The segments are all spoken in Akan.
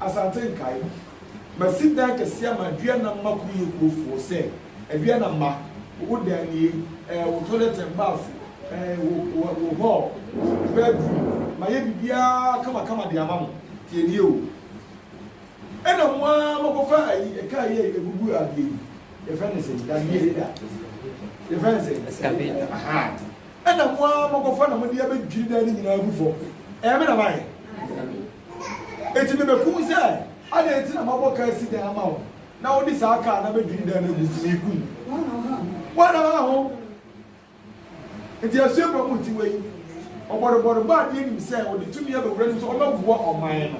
Asante nkae. Masi dan kɛseɛ ama Aduana mma Kuroyekuofoɔ sɛ Aduana mma, wo dan nie, eh, wo toilet and bath, eh, wo, wo hall, wo bedroom, mayɛ biribiara kamakama de ama mo. Tie nie o. Ɛna mo ara moakɔfa ayi, car yi a ɛgugu adeɛ yi, yɛfrɛ no sɛn, dadeɛ yi da, yɛfrɛ no sɛn? Excavator. Aha. Ɛna mo ara moakɔfa na mode abɛdwiri dan no nyinaa agu fam. Ɛyɛ me na mayɛ? Enti mibekum sɛ, Adɛn nti na mabɔ kaa si dɛn ama wo, na wode saa kaa no abedwiri dɛn no agu so? Mikum wo ara ha ho. Enti asuafoɔ mu nti wei, ɔbɔrebɔre bɔ adeɛ nim sɛ ɔde tumi aba wura nim sɛ ɔbɛboa ɔman no.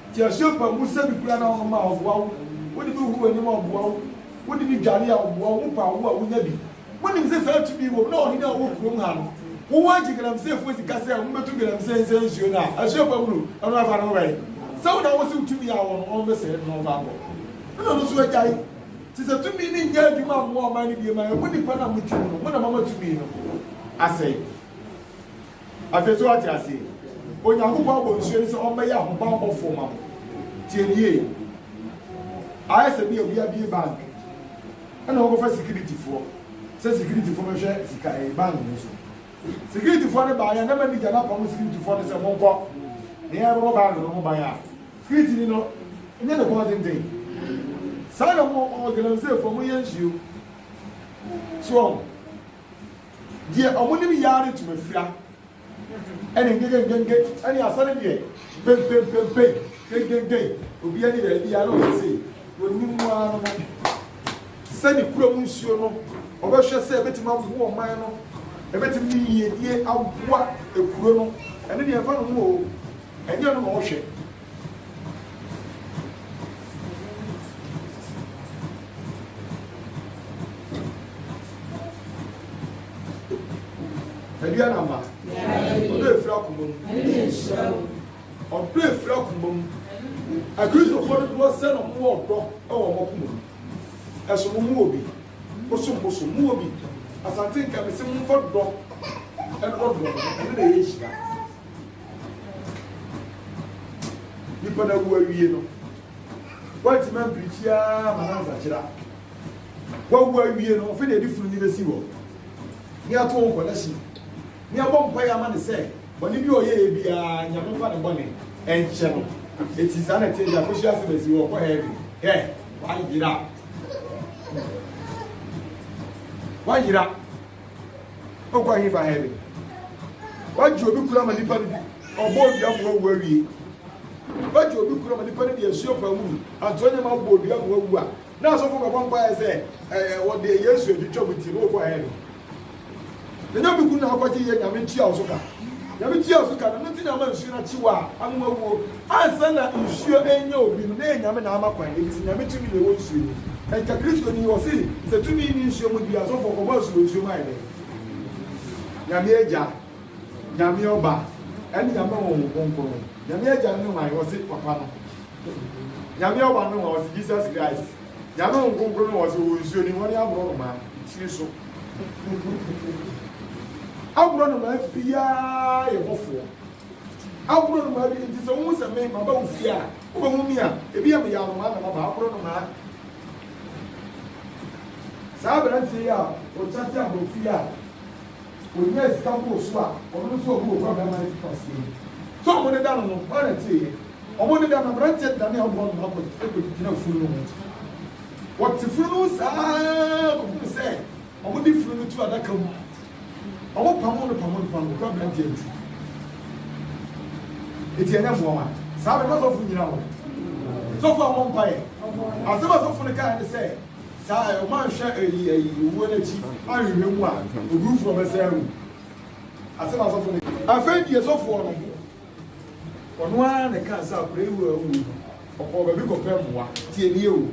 Enti asuafoɔ mu sɛ mekura na ɔnom a ɔboa wo, wode bi huru w'anim a ɔboa wo, wode bi dware a ɔboa wo, wopa awoɔ a wonya bi, Wonim sɛ saa tumi yi wɔ mu na ɔhene a ɔwɔ kurom ha no wowɔ agye Galamseefoɔ sika sɛ wɔmmɛtu Galamsee nsɛe nsuo no a ɛhyeɛ fa Muro no afa no wɛn sɛ wo na wose wo tumi a wowɔ no ɔmmɛsɛe no na ɔmfa nkɔ ɛna ɔno nso agyae te sɛ tumi no nnyɛ adwuma mmoa ɔman no biem a ɛmu nnipa no a motim no mo na moama tumi no asɛe. Afei so ɔte ase. Onyankopɔn abɔ nsuo no sɛ ɔmmɛyɛ ahobammɔfoɔ ma mo. Tie no yie. Ayɛ sɛ bi a obi abue bank ɛna ɔkɔfa sikiritifoɔ sɛ sikiritifoɔ bɛhwɛ sika ɛyɛ bank no so. Sikiritifoɔ no baeɛ na manager no apamo sikiritifoɔ no sɛ monkɔ na yɛrebɛbɔ bank no ho ban a, sikiritini no nyɛ ne kɔn tenten. Saa na mo ɔ Galamseyfoɔ moyɛ nsuo. So wɔn? Deɛ ɔmo nim yi ara ne ntomafira ɛne ngegengenge ɛne asa ne deɛ pempempempe gengengeng obi ani baabi biara na ɔyɛ sei onim mu ara no sɛ ne kura mu nsuo no ɔbɛhwɛ sɛ ebetumi aboa ɔman no ebetumi ne yiedie aboa ekuro no ɛne deɛ ɛfa no ho o ɛnyɛ no na ɔhwɛ. ɛdi anama ɔdɔ efiri akoma mu ɔdɔ efiri akoma mu akristofoɔ no doɔ sɛ na wɔn wɔ ɔdɔ ɛwɔ wɔn akoma mu ɛso wɔn mu wɔ bi bosom bosom mu wɔ bi asante nka bɛ sɛ mo nfa dɔ ɛdɔ dɔ ɛne na ɛyɛ hyia. nipa no awu awie no woantumi ampirikyi ara ma no ansakyera woawu awie no ɔfe na ɛde funu ni bɛsi hɔ ne ato wo nkɔda si ne abɔ mpa yɛ ama ne sɛ bɔne bi ɔyɛɛ biara nyame mfa ne bɔne ɛnkyɛ no ɛti saa na ɛteɛ de akɔhyia asɛm asi wɔ ɔkɔ hɛɛbi hɛ wayera wayera wokɔ ahefa heaven wagye obi kura ma nipa no bi ɔbɔ odua mu awu awie wagye obi kura ma nipa no de asuo paa mu antoa nyɛma abɔ odua mu awu a na asɔfo bɛbɔ mpaeɛ sɛ ɛɛ wɔde yesu atwitwa mu ti na wokɔ heaven na nyame kunu na akɔgye yɛ nyame tua wo so ka nyame tua wo so ka na no ti na ama nsuo no akye wo a ama wawuo Ansa na nsuo renyɛ obi no, na ɛyɛ Nyame na ama kwan, efisɛ Nyame tumi na ɛwɔ nsuo mu. Ɛnka Kristoni yi, ɔse, sɛ tumi nni nsuo mu deɛ a, sɔfo ɔkɔbɔ asu wɔ nsuo mu ayɛ dɛn? Nyame Agya, Nyame Ɔba, ɛne Nyame Honhom Kronkron. Nyame Agya ne hwan? Ɔse, Papa no. Nyame Ɔba ne hwan? Ɔse, Jesus Christ. Nyame Honhom Kronkron ne hwan? Ɔse, ɔwɔ nsuo ne hɔ ne aborɔnomaa tiri so. Aborɔnomaa biara yɛ bɔfoɔ. Aboro nnomaa bi nti sɛ wohu sɛ me, maba wo fie a, wobɛhu me a, ebia meyɛ anomaa na maba. Aboro nnomaa. Saa aberanteɛ yi a ɔkyate aborɔfo yi a ɔnyaa sika bɔɔ su a ɔno nso ɔbu ɔkura bɛrima no fo kwaseɛ yi, sɛ wɔdeda no no, hwan na ɛteeɛ? Wɔdeda no, aberanteɛ danee aboro nnomaa kɔgyina funu no ho. Ɔte funu no ho saa ara kɔhunu sɛ Wɔde funu no tu adaka mu. Wɔpamoo no pamoo no pamoo no kɔɔ aberanteɛ no ti. Eti ɛnyɛ mmoa wa? Saa bɛ na sɔfo nyina hɔ. Sɔfo a wɔmpa yɛ. Asɛm a sɔfo no kae ne sɛ, saa a wɔn anhwɛ ɛyi ɛyi owuo no akyi anhwehwɛ mu a, oburufoɔ bɛsɛe awu. Asɛm a sɔfo no. Afei deɛ sɔfoɔ no. Ɔno ara na ɛkaa sɛ akwadaa yi wura wui no, ɔkɔɔ baabi kɔpɛ mmoa. Tie nie o,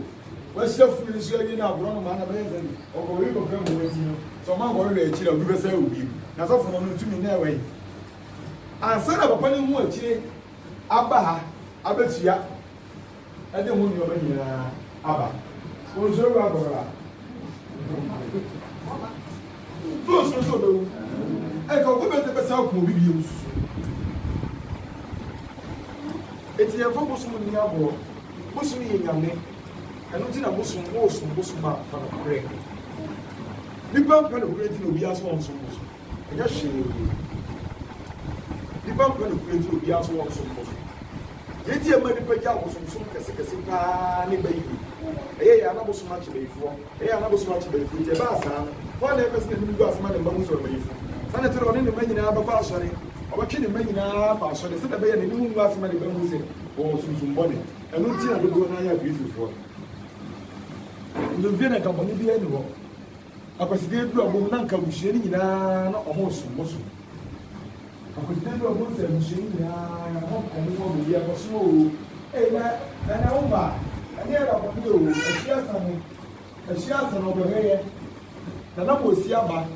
wahyira funu no nso awie na aborɔ no maa no bɛyɛ sɛ deɛ ɔkɔɔ baabi kɔpɛ mmoa nti no, sɛ ɔma nkɔhwehwɛ akyire a obi bɛsan awu bio. Na sɔfo no no ntumi na ɛwɔ yi. Ansa na papa no ahu akyire aba ha abɛtua. ɛde ho nneɛma nyinaa aba. Onsuro wura bɔhɔra. Ntu onsuro sɛ obewu. Ɛka obi bɛtɛ bɛsan akum obi bio nsusu. Eti yɛmfa bosom nni agorɔ. Bosom yɛ nyame. Ɛno nti na bosom, wosom bosom a, fa no korɛ. Nipa mpɛ no korɛ nti na obiara sɛ ɔnsom bosom. Ɛnyɛ hwee. Nnipa mpɛ nokorɛ nti na obiara nso wɔ nsɔmpɔ so. Deɛ nti a ɛma nnipa gye abosomsom kɛsekɛse paa ne bayie. Ɛyɛ yɛ a na bosom akye bayifoɔ. Ɛyɛ a na bosom akye bayifoɔ nti ɛbaa saa no, hwan na ɛpɛ sɛ n'anim gu ase ma ne mma hu sɛ ɔyɛ bayifo? Saa na ɛte no, ɔne ne mma nyinaa bɛkɔ asɔre. Ɔbɛtwe ne mma nyinaa akɔ asɔre sɛdeɛ ɛbɛyɛ a n'anim ngu ase ma ne ba nhu sɛ ɔwɔ sunsum bɔne. Ɛno nti na dodoɔ no ara yɛ Agrikifoɔ. Nnomfie na nka bɔne biara nni hɔ. Akwaside aduru abom na anka abusua no nyinaa na ɔmo resomosom. Akwaside aduru abom sɛ abusua no nyinaa na ɔmo nkɔm ho abɔ yie akɔ soro oo. Ei na Nana wo mma ɛnyɛ ɛda bɔne oo ɛhye asa no ɛhye asa no ɔbɛhwɛ yɛ Nana Boasia aba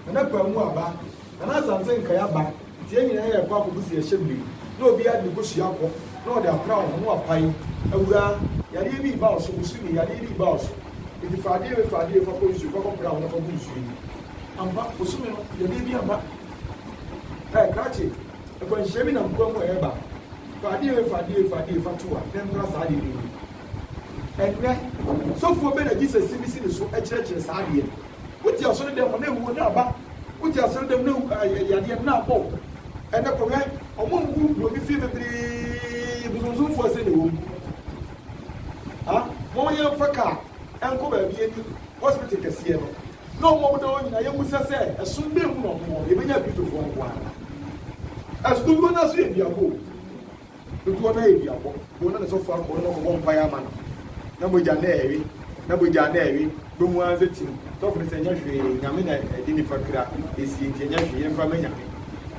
Nana Kwaamu aba Nana Asantse Nkae aba. Nti yɛn nyinaa yɛkɔ akɔgu so yɛhyɛ bere mu na obiara de ne kosua kɔ na ɔde apra wo ho na wapae, Awuraa, yareɛ bi reba wo so, Bosu ni, yareɛ bi reba wo so, nti fa adeɛ wei, fa adeɛ wei, fa kɔ nsuo, fa kɔ pra wo ho na fa gu nsuo mu. Ampa, bosome no, yadeɛ bi amma. Ɛɛ, krakye, akwanhyia bi nam kwan mu a ɛreba. Fa adeɛ wei, fa adeɛ wei, fa adeɛ wei, fa to a, na ɛmpra saa adeɛ no ngu. Ɛnnɛ, sɔfoɔ bɛn na Jesus misi ne so kyerɛkyerɛ saa adeɛ no? Wote asɔredɛm hɔ na ewuo na aba wote asɔredɛm na ewu yadeɛ na abɔ wo ɛnɛ kɔ hwɛ ɔmo ngu buroni fie bebree bosomsomfoɔ ɛsɛ na ewom ha mo yɛn fa kaa ɛnkɔ baabi ɛni hospital kɛseɛ no na ɔmo ɔmo da hɔ nyinaa yɛn mu sɛ sɛ ɛsom bɛɛ mu na ɔmo wɔ yɛbɛnya kristofoɔ nko ara ɛso duro no aso yɛ duago. Dodoɔ no ara yɛ duabɔ. Dodoɔ no ara na sɔfoɔ akɔ hɔ na wakɔbɔ mpaeɛ ama no, na mogya no rewe, na mogya no rewe, wobɛhu ara sɛ tim. Sɔfo no sɛ, Ɛnyɛ hwee, Nyame na ɛde nnipa kra sie enti ɛnyɛ hwee, yɛmfa mma Nyame.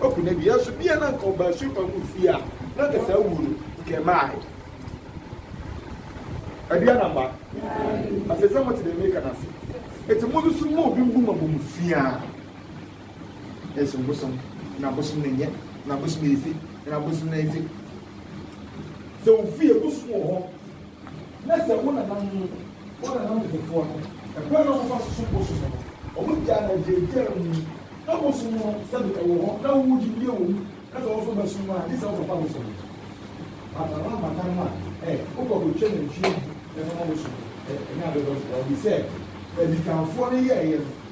Waku no awie. Nanso bia na anka ɔbaa Supan mu fie a, na anka saa wuo no, anka ɛmmaeɛ. Ɛdeɛ anaa mma? Afei sɛ mote deɛ mereka no ase. Enti monsusu mma obi mmu mo abomfiaa. ɛsom bosom na bosom no nyɛ na bosom no efi na bosom no efi sɛ wofi egu so wɔ hɔ na sɛ wo nananom wo nananom nketewa no ɛkwan na wɔfa so som bosom no wɔn gyaa na gyaagyaa mu na bosom no sɛbi ɛwɔ hɔ na wɔn gye die wɔ mu na sɛ wɔn so bɛsom no a gye sɛ wɔkɔfa bosom no bata no abata no a ɛ wokɔ kɔtwa nantwie ɛfama bosom no ɛnyɛ abɛbɔ so wɔde sɛ adikanfoɔ no yɛɛyɛ no.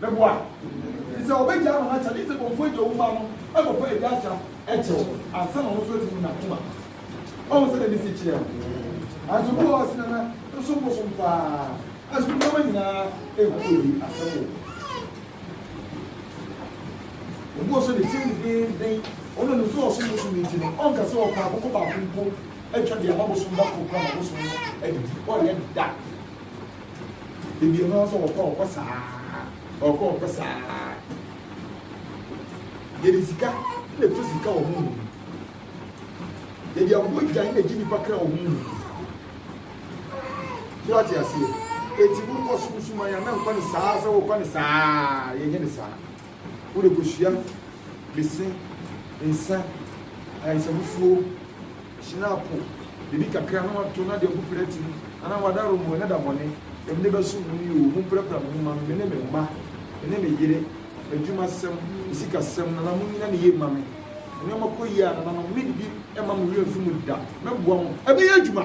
Meboa. Te sɛ ɔbagyaa no n'akyɛde. Te sɛ kɔmfoɔ agya wo mma no ɛkɔfa agya akyɛ no ɛkyɛ wo ansa na ɔno nso atumi nya akoma. Ɔhu sɛdeɛ ne si kyerɛ wo. Nanso bi wɔ hɔ ɔsena na bosom bosom paa nanso nneɛma nyinaa ɛnkɔ yie asɛm wɔ. Obi wɔ so ne tirim dedeenden ɔno nim sɛ ɔsom bosom no nti no ɔnka sɛ ɔpɛ akokɔ baako mpo atwa deɛ ama bosom da koro kora ma bosom no adidi ɔyɛ da. Ebien no so ɔkɔ ɔkɔ saa ɔkɔ ɔkɔ saa. Yɛde sika na ɛtu sika wɔ honhom mu. Yɛde abogya na ɛgye nipa kra wɔ honhom mu. So ate aseɛ? Eti wokɔ sunsuma yɛ na nkɔ ne saa sɛ wokɔ ne saa yɛnyɛ ne saa. Wode kosua, bese, nsa, ayaresamufuo, hyinapo, biribi kakra na wato na de agu prɛte mu anaa wada romoe na da bɔne, Nyame ne bɛsom mo ni oo, momprapra mo ho mma me, me ne me mma, me ne me yere, m'adwumasɛm, me sikasɛm, Nana monnyina ne yie mma me, nneɛma kɔ yie a, Nananom, meredi mma mo werɛ mfi mu da, mɛboa mo, ɛbɛyɛ adwuma!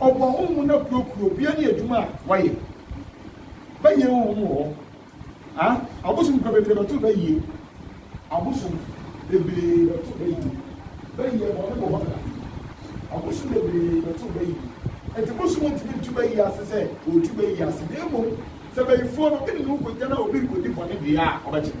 Ɔbɔ hɔnho na kurakura obia ne edwuma a wɔyɛ. Bɛyɛ wɔ hom wɔ hɔ a, abosom kura bebree bɛto bɛyɛ. Abosom bebree bɛto bɛyɛ. Bɛyɛ bɔne wɔ hɔ da. Abosom bebree bɛto bɛyɛ. Ntsi bosom nntumi nto bɛyɛ ase sɛ otu bɛyɛ ase, na mbom sɛ bɛyifoɔ no ene no kogya na obi rekodi bɔne deɛ a, ɔbɛgye no.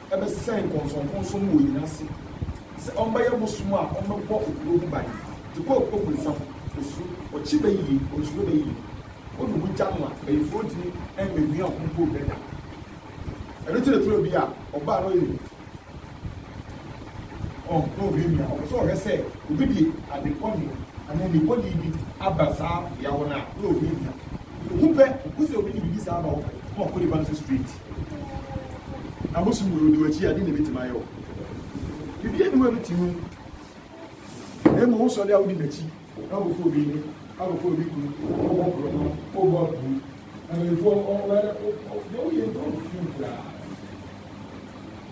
bɛsɛn nkɔnsɔnkɔnsɔn mu wɔ hɛn ase, sɛ ɔmmbɛyɛ bosoom a ɔmbɛbɔ kurow ho ban, dze kɔ ɔbonsam osu, ɔkye bɛyie, ɔnsuro bɛyie, odu ho gya no a, bayifo ronntumi mma nnuan ho mpo nndɛ da. Ɛno ntsi na turo bi a ɔbaa no ɔyɛ hu, ɔn, na ohuamia, ɔpɛ sɛ ɔhwɛ sɛ obi dze adze bɔne anaa enyibɔdee bi aba saa bea hɔ no a, na ohuamia. Ohu pɛ, ohu sɛ obi dze biribi saa aba hɔ pɛ, na ɔkɔ nyimpa no so straight. Ahosu wɔ odi w'akyi a, deɛ na ɛbɛtumi ayɛ wo? Biribiara nni hɔ a ɛbɛtumi wo. Na mmom wosɔre a wodi n'akyi na wobɛfa obi yere, abɛfa obi kunu, wobɔ borɔno, wobɔ abuo. Na mpanimfoɔ wɔyɛ deɛ woyɛ nyɛ wo fii koraa.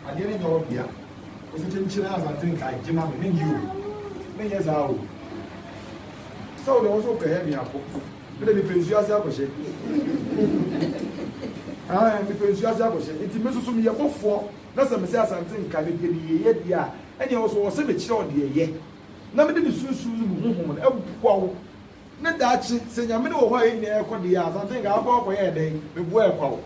Adeɛ no nyɛ wo dea. Wosi kyenkyen Asante nka agye ma me, menyɛ o, menyɛ saa o. Sɛ wo deɛ wo nso wopɛ yɛ me ako. Me de mepɛ nsuo ase akɔhyɛ. Ahan, mepɛ nsuo ase akɔhyɛ. Nti me so so meyɛ bɔfoɔ na sɛ mese Asante nka ne deɛ meyɛeɛ deɛ a, ɛnneɛ wo so wɔse mekyerɛ wo deɛ yɛ. Na mede me sunsum ne me honhom no aboa wo. Ne daakye, sɛ Nyame no wɔ hɔ a yɛn nyinaa yɛkɔ deɛ a, Asante nka, wobɛkɔ akɔyɛ dɛn? Meboa yɛ kwa wo.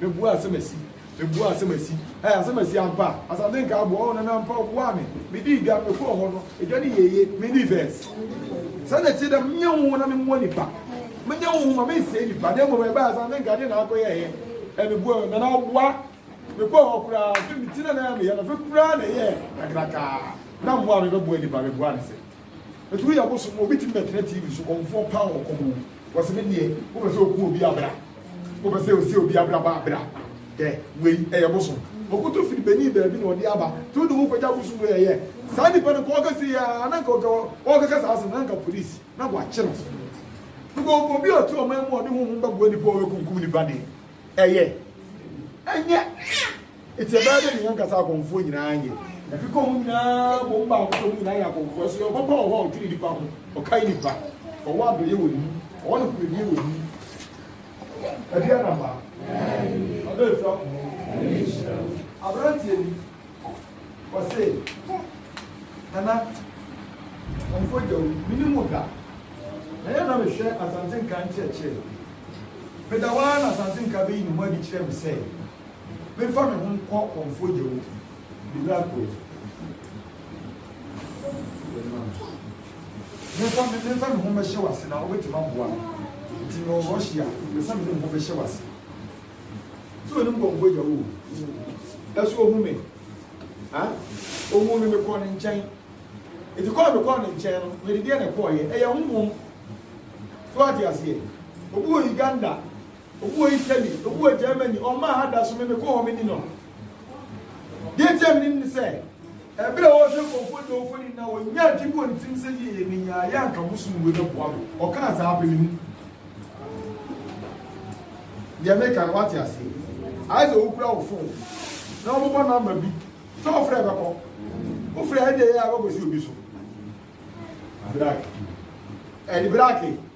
Mebua asamasi, mebua asamasi, eh, asamasi ampa, asante nka aboa, oh, nana ampa ɔboa me, medii dwa, mekɔɔ hɔ no, edwa no yɛye, mini verse. Sɛ na ɛte dɛ, menyɛ wo na memmoa nipa, menyɛ wo ma mensɛe nipa, na mmom ɛbɛyɛ asante nka adeɛ na akɔyɛɛyɛ, eh, mebua me, nana ɔboa, mekɔɔ hɔ koraa, afei meti na na ɛyɛ meyɛ no, afei koraa na ɛyɛ kakrakaa, na mmoa a mebɛboa nipa, meboa no sɛ. Ɛtumi yɛ bosom mu, obi tumi bɛtena TV so, kɔmfoɔ paa wɔ kɔm o, wɔse me deɛ wopɛ sɛ oku obi a bra, wopɛ sɛ osie obi abrabɔ a bra, hwɛ wei ɛyɛ bosom. Ɔkoto firi Benin baabi na ɔde aba, nti wode ho kɔgya bosom wei ɛyɛ? Saa nipa no nka ɔka sei a, na nka ɔka ɔkeka saa asɛm no na nka police na wɔakye no, because obi a ɔte ɔman mu a ɔde honhom bɛboa nipa a ɔbɛkumkum nipa deɛ ɛyɛ? Ɛnyɛ. Enti ɛbɛyɛ dɛn na yɛn ankasa akɔmfoɔ nyinaa ayɛ? Ɛkeka wɔn nyinaa bom ba nko sɛ wɔn nyinaa yɛ akɔmfoɔ. So Yehowa papa wɔ hɔ a ɔdwene nnipa ho? Ɔkae nnipa. Ɔwɔ adɔeɛ wɔ ne mu. Ɔwɔ nokorɛdie wɔ ne mu. Ɛdeɛn na mma? Ɔdɔ ɛfiri akoma mu. Aberanteɛ bi, ɔse, Nana, Kɔmfoɔ Gyawu, mennim wo da. Na yɛ na mehwɛ Asante Nka nkyerɛkyerɛ. Meda hɔ ara na Asante Nka bɛyi ne ho adi kyerɛɛ me sɛ, Mefa me ho nkɔ kɔmfo gya mu. Bibra kɔ yi. Mefa me mefa me ho bɛhyɛ wase na wobɛtumi aboa me. Nti me wɔ rush a mefa me ho bɛhyɛ wase. So ne nkɔmfo gya wo. Ɛso ohu me. Ha? Ohu me mekɔ ne nkyɛn. Nti kɔɔ me kɔɔ ne nkyɛn no mede deɛ na ɛkɔɔ yɛ. Ɛyɛ honhom. So ate aseɛ. Obi wɔ Uganda. Obi wɔ Italy, obi wɔ Germany, ɔmmaa ha da so, me mekɔ hɔ menim no. Deɛ nti a menim ne sɛ, ɛberɛ a wɔrehwɛ nkurɔfoɔ de wɔn mfoni na wɔnya adwene bi wɔ ne tirim sɛ yie menyaa yɛ anka bosom wei bɛboa me. Ɔkaa saa apɛ me hu. Deɛ meka no wate aseɛ. Ayɛ sɛ wokura wo fon na wɔbobɔ nɔmba bi sɛ wofrɛ bɛkɔ. Wofrɛ ɛdeɛ yɛ a wobɛkɔsi obi so. Brake. Ɛde brake.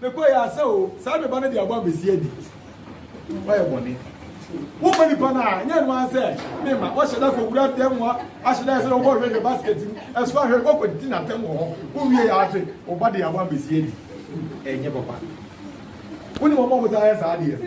Mekɔ yɛ asɛ o, saa meba no de abɔ amesi adi. Wayɛ bɔne. Wokɔ nipa no a, nyɛ no ara sɛ me ma wɔhyɛ da kɔ wura dɛm hɔ, ahyɛ da sɛ wokɔ hwehwɛ basket mu, ɛso ahwɛ kɔkɔ di na tɛm wɔ hɔ. Wowie yɛ ahwɛ, woba de abɔ amesi adi. Ɛnyɛ papa. Wonim wɔn a wɔtaa yɛ saa adeɛ no?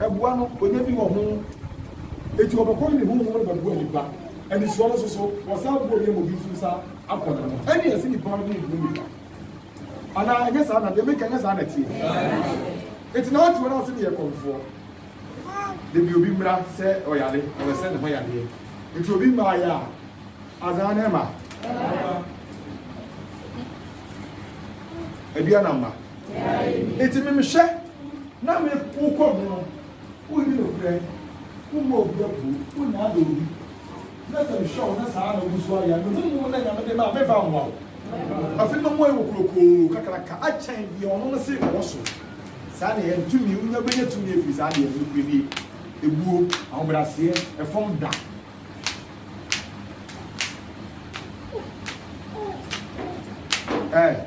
Ɛboa no, ɔnya bi wɔ ho. Enti ɔbɛkɔ ne ne honhom no bɛboa nnipa. Anisoɔ no nso so, wɔsan boa obi ama obi nso san akɔ ne ho. Ɛnneɛ ɛsɛ nnipa no de boa nnipa. Anaa ɛnyɛ saa na deɛ meka nyɛ saa na ɛteɛ? Enti na ɔte wɔn ase ne yɛ kɔmfoɔ. Da bi obi mmra sɛ ɔyare, ɔpɛ sɛ ne ho yareɛ. Enti obi mmaeɛ a, azaa na ɛma? Aduane amma? Enti memehwɛ. na me wokɔ me no wonni nokorɛ, wommɔ obi abuo, wonnaadaa obi, na sɛ mehwɛ wo na saa ara na wogu so ayɛ a, me honhom no a Nyame de ma a, meremfa mmoa wo. Afei mɛma woayɛ kokurokoo kakraka akyɛn deɛ ɔno no se ɔwɔ so. Saa na ɛyɛ no, tumi, wonya bɛnya tumi afiri saa adeɛ no, nokorɛdie, ebuo, ahobrɛaseɛ, ɛfam da. Ɛɛ.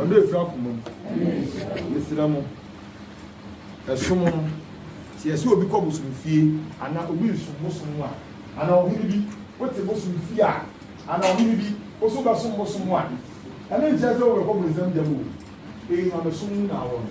ɔdɔ a ɛfiri akoma mu mesrɛ mo ɛsom no sɛ yɛsɛ obi kɔ bosom fie anaa obi resom bosom mu a anaa ɔhene bi wote bosom fie a anaa ɔhene bi wo so bɛsom bosom mu a ɛno nkyerɛ sɛ wobɛkɔ bonsam gya mu o ɛyi ma bɛsom mu na awɔ no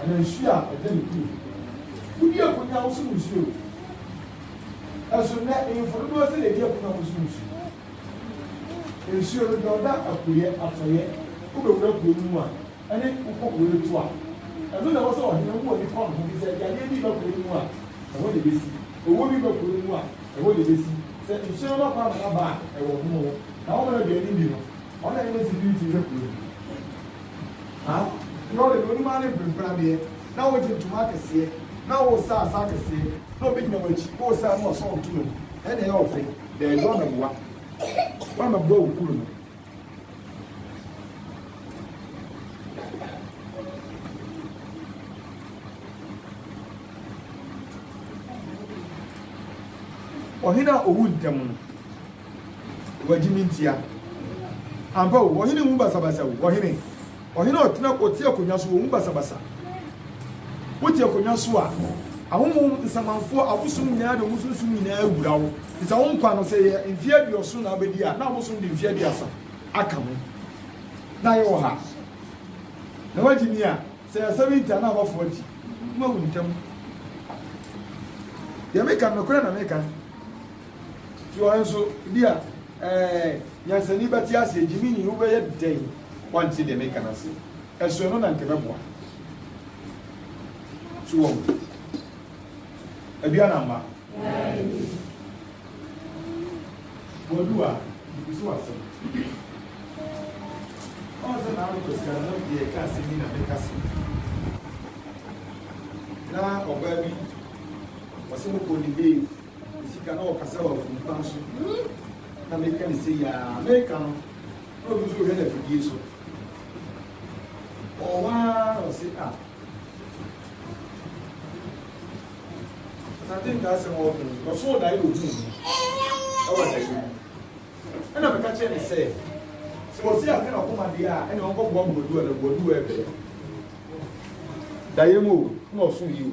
Anaa nsuo a ɛda ne kunu ho. Wodi akonwa a wosom nsuo o. Nanso nnɛ nhemfo dodoɔ sɛn na ɛdi akonwa a wɔsom nsuo? Nsuo no deɛ ɔda apueɛ, atɔeɛ, wobɛwura kuro no mu a, ɛne wokɔ kuro no to a, ɛno na ɛwɔ sɛ ɔhene wo ani kɔ ne ho, efisɛ yadeɛ bi reba kuro no mu a, ɛhɔ na ɛbɛsi, owuo bi reba kuro no mu a, ɛhɔ na ɛbɛsi. Sɛ nsuo no ba kwan ma no aba a, ɛwɔ ho. Na wɔn a wɔn aduane nni no, wɔn na ɛne security hwɛ kuro no. Ha na ɔde ne ɔnum ano mprempren adeɛ, na ɔregye ntoma akɛseɛ, na ɔresa asa akɛseɛ, na obi gyina w'akyi, ɔresa na ɔsɔn ntoma mu, ɛnna ɛyɛ wo fɛ. Daabi, woammɛboa. Woammɛboa wo kunu no. Ɔhene a ɔwu ntɛm no. Wɔagye me ntia. Ampa o, ɔhene nhu basabasa o, ɔhene, ɔhene a ɔtena, ɔte akonnwa so, ɔnhu basabasa. Wote akonnwa so a, ahonhom, nsamanfoɔ, abosom nyinaa de wɔn sunsum nyinaa awura wo. Te sɛ wo nkwa no, sɛ yɛ mfeɛ aduɔson na abɛdi a, na abosom de mfeɛ aduasa aka ho. Na yɛwɔ ha. Na wagye ni a, sɛ yɛ 70 a, na aba 40. Mawu ntɛm. Deɛ meka no, nokorɛ na meka. Soa nso, ebia, ɛɛ, nyansani bɛte ase, Gyininyi, wobɛyɛ dɛn woante deɛ meka no ase? Ɛso ɛno na anka ɛbɛboa. So wɔn aduan amma. Wɔadu a, bibi so asɛm. Ɔn sɛ na anokɔ sika no deɛ ɛka asɛm yi na meka se. Na ɔbaa bi, ɔse mokɔ ne bee. Ɔsi ka na ɔkasa wɔ afum kwan so na meka ne sei aa meka no na ɔno nso ɔhwɛ no afidie so ɔwɔ hɔ aa na ɔsi a asante nka asɛm a ɔka yi ɔsoo dae wɔ hu ɛwɔ dae mu ɛna meka kyerɛ ne sɛ sɛ ɔsi aka na ɔkoma deɛ a ɛna ɔnkɔ boa boaduwa na boaduwa ɛbɛyɛ dae mu o na ɔso yi o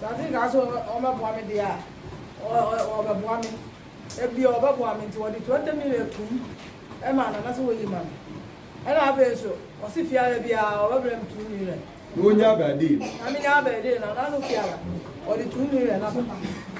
Sɛ ase nkaa sɛ wɔbɛboa me deɛ a, wɔbɛboa me. Ebia wɔbɛboa me nti wɔde twenty million toom maa no anaasɛ wɔyi ma me. Ɛna afei nso ɔse fiara biara wɔbɛbrɛ me two million. Na wonya abɛɛdee no? Na menya abɛɛdee no, anaa no fiara wɔde two million abɛma.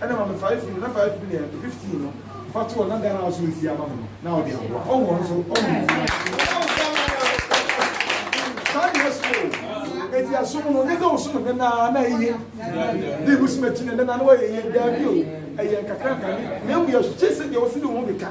Ɛna ma me five million na five million ɛtɔ fifteen no fa to ɔna Ghana aso nsi ama me no na ɔde aboa ɔwɔ ɔno so ɔwɔ ne ti saa deɛ so o eti asom no ne sɛ ɔsom no nana na eye ne ebu sima ti na nana na ɔyɛ yɛ daabi o ɛyɛ nkakra nkane na emu yɛ so kye sɛ deɛ ɔsi ne ho de ka.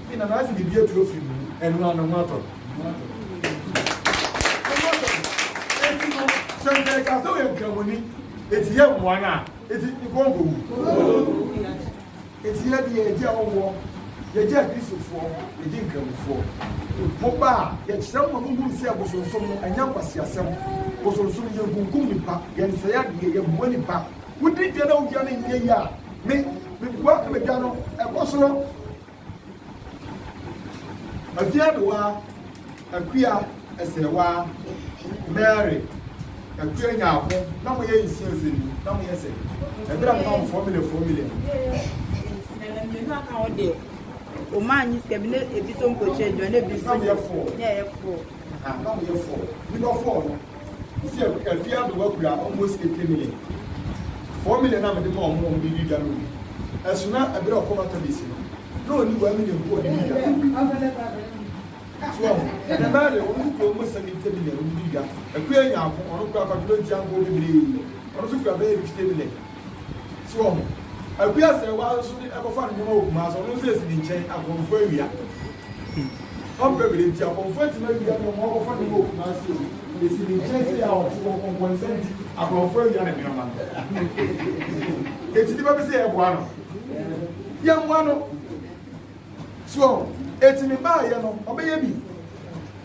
Afei na n'ase de bi atu afiri ne mu. Ɛno ara no, ho atɔ no. Ho atɔ no. Enti no, sɛ nka ɛka sɛ ɔyɛ nkramoni, enti yɛ mmoa no a, enti nka ɔnkɔ wu. Enti yɛ deɛ yɛgye awɔwɔ, yɛgye akristofoɔ, yɛgye nkramofoɔ. Mo ba a, yɛkyerɛ mo ma mo hunu sɛ bosonsom no, ɛnyɛ nkwaseasɛm. Bosonsom, yɛ nkunkum nnipa, yɛ nsɛe adeɛ, yɛ boa nnipa. Wodi dwa na wodwa no nyɛ yie a, me, me boa na me dwa no, ɛkɔ soro. Afiaduwa, Akua, Ɛsɛwa, Mary, Akua Nyarko na mo yɛ nsia nsia ni na mo yɛ sɛ ɛdra mo ma mo four million four million. Ɛna mmienu aka ho deɛ, ɔmaa nyi sika bi na ebi so mpokyerɛ adwuma na ebi so na ɛyɛ four. Ah na ɔmo yɛ fɔɔ. Nipa fɔɔ no ɔsi afie adowa kura almost eighty million. Four million a mede maa ɔmo ɔmo de di dwa no gu. Ɛso na ɛbere a ɔkɔ Matabase no na ɔnni one million mpo a ɔde di dwa. So wahu? Ɛnɛ mmaa deɛ ɔmo nso kura almost seventy million ɔmo de di dwa. Akuya Nyarko ɔno kura kwadwoma nti anka ɔwɔ bebree. Ɔno nso kura bɛyɛ fifty million. So wɔn? Agu asɛewa nso de ɛkɔfa ne nneɛma wɔ Kumasi, ɔno nso esi ne nkyɛn, akɔmfo awia. Ɔmpɛ bere nti akɔmfo atumi awia nneɛma, wɔakɔfa nneɛma wɔ Kumasi o, esi ne nkyɛn sɛ yɛ a ɔte hɔ nkɔnkɔnsa nti akɔmfo awia ne nneɛma no. Enti nnipa bi sɛ yɛboa no, yɛmmoa no. So enti ne baayɛ no ɔbɛyɛ bi?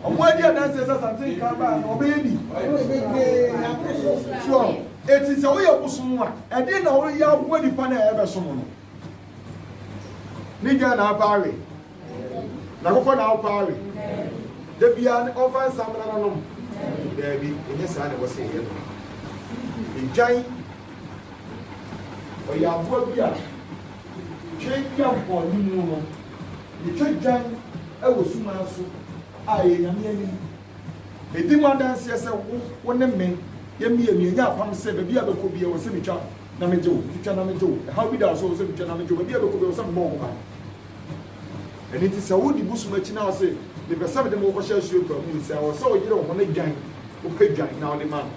Ɔmo adi adanseɛ sɛ Asante Nka baa no ɔbɛyɛ bi? So enti sɛ woyɛ bosom a ɛdeɛn na woyɛ aboa nipa no a ɛbɛsom no? Ne dwan na apa awe? N'akokɔ na apa awe? Da biara ne ɔmfa nsa mmena no nom? Daabi, ɛnyɛ saa na ɛwɔ sɛ yɛyɛ no. Dwan Ɔyɛ aboa bi a twɛn bi a bɔ ne mu no, ne twɛ dwan wɔ suman so a ɛyɛ Nyame anim. Medi mo adanseɛ sɛ wo, wo ne me, yɛn mmienu yɛanya apam sɛ baabi a bɛkɔ biara ɛwɔ sɛ metwa na megye wo, metwa na megye wo. Ɛhaw bi da wo so, ɛwɔ sɛ metwa na megye wo. Baabi a bɛkɔ biara ɛwɔ sɛ mebɔ wo ho ban. Ɛno nti sɛ wodi bosom akyi na wose mepɛ sɛ mede mo kɔhyɛ asuakuaa mu nsa a, ɛwɔ sɛ woyere wo ho na dwan, wopɛ dwan na wode ma no.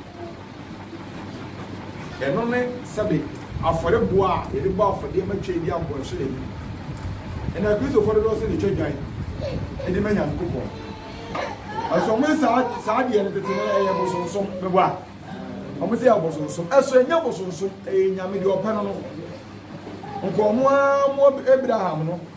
Ɛno ne sɛbe afɔrebo a yɛde bɔ afɔdeɛ ma Twam di abɔnhye da no bi. Ɛnna Kristofo dodoɔ sɛ na ɛtwa dwan de ma Nyankopɔn. Ɛso wɔn saa saa deɛ no tete no ɛyɛ bosonsom mɛbɔ a wɔn sɛ ɛyɛ bosonsom ɛso ɛnyɛ bosonsom ɛyɛ nyame deɛ ɔpɛ no no nkɔn mo ara mo Abraham no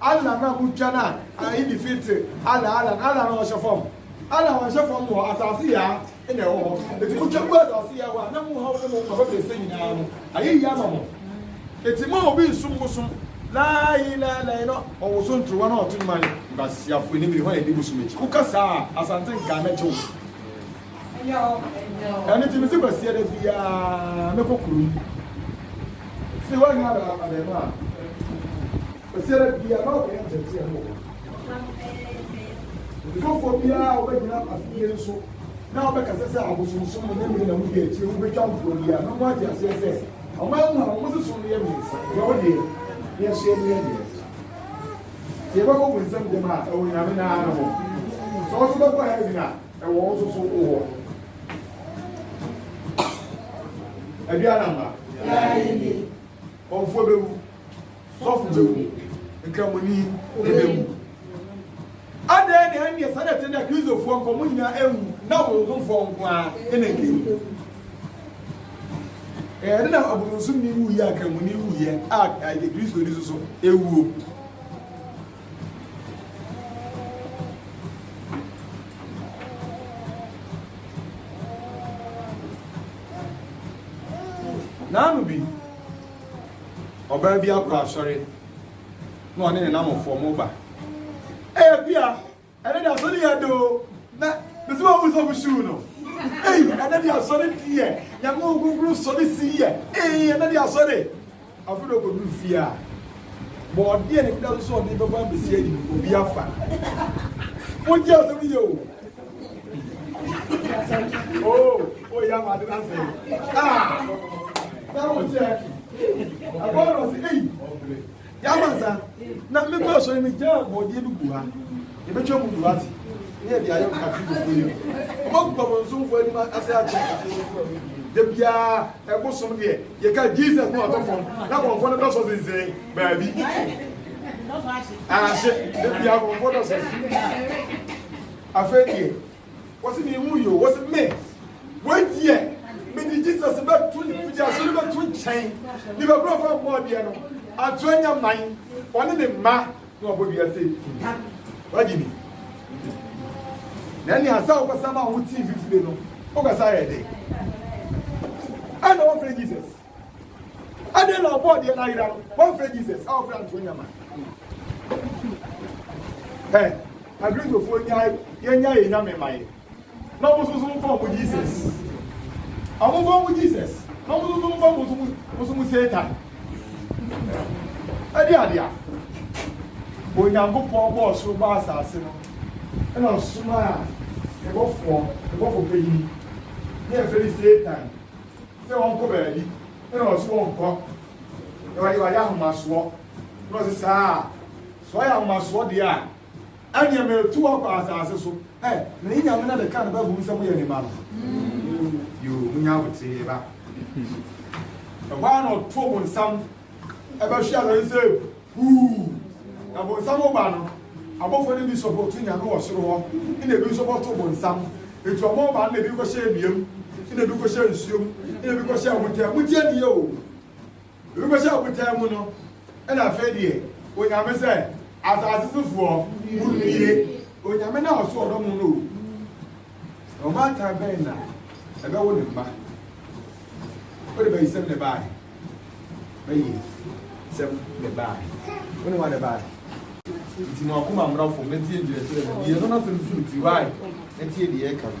Allah na mutwa na Eid Fitr, Allah, Allah, na Allah na ɔhyɛ fam. Allah ɔnhyɛ fam wɔ asase yɛ a ɛna ɛwɔ hɔ. Eti mutwa gu asase yɛ hɔ a na muhaw ne mo papa bɛsɛ nyinaa no ayɛ yie ama mo. Eti ma obi nsom bosom Laa ilaa ilaa no ɔwoso ntrowa na ɔto nnwan. Nkwaseafo, ɛne me ne hwan a yɛdi bosom akyi? Woka saa a, Asante nkaa mɛgye wo. ɛno nti mese kwasia da biara mɛkɔ kurom si woanya abɛɛma a kwasia da biara na ɔkɔyɛ nkyɛnkyɛ no wɔ mfɔfoɔ biara wobɛgyina afidie no so na wobɛkasa sɛ abosonsom no ne mmiri na mudi akyire wobɛtwa mfoɔ biara na mo ate aseɛ sɛ ɔman mu a wɔn soso no yɛ mmiɛnsa deɛ wodeɛ ne ɛso yɛ mmiɛ deɛ sɛ yɛbɛkɔ bu nsɛm gyama a ɛwɔ nyame naa no hɔ sɛ ɔso bɛkɔ heaven a Ɛwɔ wo nso so wo wɔ. Adua na mma. Ɔmfoɔ bɛwu. Sɔfo bɛwu. Nkramoni bɛwu. Adɛn na ɛnneɛ sɛdeɛ te na Kristofoɔ nkɔ mo nyinaa ɛwu na wo nkomfoɔ nko ara ɛna nkɛwu. Ɛyɛ na abononsom ni wuyɛ a nkramoni wuyɛ a ɛyɛ Kristo ni so so ɛwuo. Naano bi, ɔbaa bi akɔ asɔre na ɔne ne namfoɔ mo ba. Ebia Ɛnɛ de asɔre yɛ do na mesi ma ɔmu sɔfo shoe no ei ɛnɛ de asɔre deɛ nyame wo kunkun sɔre si yɛ ei ɛnɛ de asɔre afei de ɔkɔduru fie a bɔɔde a n'ani da so sɛ ɔde bɛba abɛsi ayi no obi afa wogye asɛm yɛ o oo oyɛ ama ade no asɛ a na wokyɛ ɛbɔɔ na ɔse ei Yɛamansa, na mekɔ asɔre mi gyaa bɔɔdeɛ bi gu ha. Yɛbɛtwa mu gu ha se, ne yɛde ayɛ Akristofoɔ yi. Wɔn akuba wɔn somfoɔ anim ase akyerɛ Akristofoɔ a wɔdie. Da biara, ɛbo som deɛ, yɛka Jesus na watɔ fam, na kɔmfoɔ no dɔsɔ sensɛn baabi. Ahye, da biara kɔmfoɔ dɔsɔ. Afei deɛ, Wɔsi mi mu yo, wɔsi me wei deɛ mede Jesus bɛto mede aso no bɛto nkyɛn ne bɛbrɔfo ammɔ adeɛ no ato anya man ɔne ne mma na wabɔ dua se nta wagye ni na ne asa wokɔsa ma wo tii fifire no wokɔsa yɛ dɛ ɛna wɔfrɛ Jesus Adɛn na ɔbɔɔ deɛ n'ayera no? Wɔmfrɛ Jesus a ɔfrɛ anto nyama. Ɛ Akristofoɔ nyae yɛnya yɛ nyame ma yɛ na wɔn nso so mfa wɔn Jesus. Wɔn mfa wɔn Jesus na wɔn nso so mfa wɔn nso wɔn nso mu Satan. Ɛde adeɛ a Onyankopɔn bɔɔ soro baa asase no ɛna ɔsomaa ɛbɔfoɔ ɛbɔfoɔ panyin ne ɛfɛ ne Satan sɛ wɔnkɔ baabi na ɔse wɔnkɔ na wɔde wɔayɛ ahomasoɔ na ɔse saa a sɛ wɔayɛ ahomasoɔ deɛ a ɛneɛ metu hɔ kɔ asase so ɛ na yi nyame na de ka no ba hunu sɛ moyɛ ne ma no yoo munya woteɛ ba ɛhɔ a na ɔto mo nsam ɛbɛhwe asase sɛ Huu! Bonsam ba no, abɔfoɔ no bi nso bɔto Nyame wɔ soro hɔ, nna bi nso bɔto bonsam. Enti wɔn ba no na bi kɔhyɛ nnua mu, nna bi kɔhyɛ nsuo mu, nna bi kɔhyɛ abotan mu. Motie nie o! Ebi kɔhyɛ abotan mu no, nna afei deɛ Onyame sɛ, Asase so foɔ, monnie! Onyame no a ɔso ɔdɔ mo no o! Na ɔbaatan bɛn na ɛbɛwo ne mma? Wode bayisɛm na ɛbaeɛ. Bayisɛm na ɛbaeɛ. Wo ne wa na ɛbaeɛ. Nti mo akoma mmra fam na tie nkyerɛkyerɛ no. Deɛ ɛno n'asɛm so nti, why? Na tie deɛ ɛka no.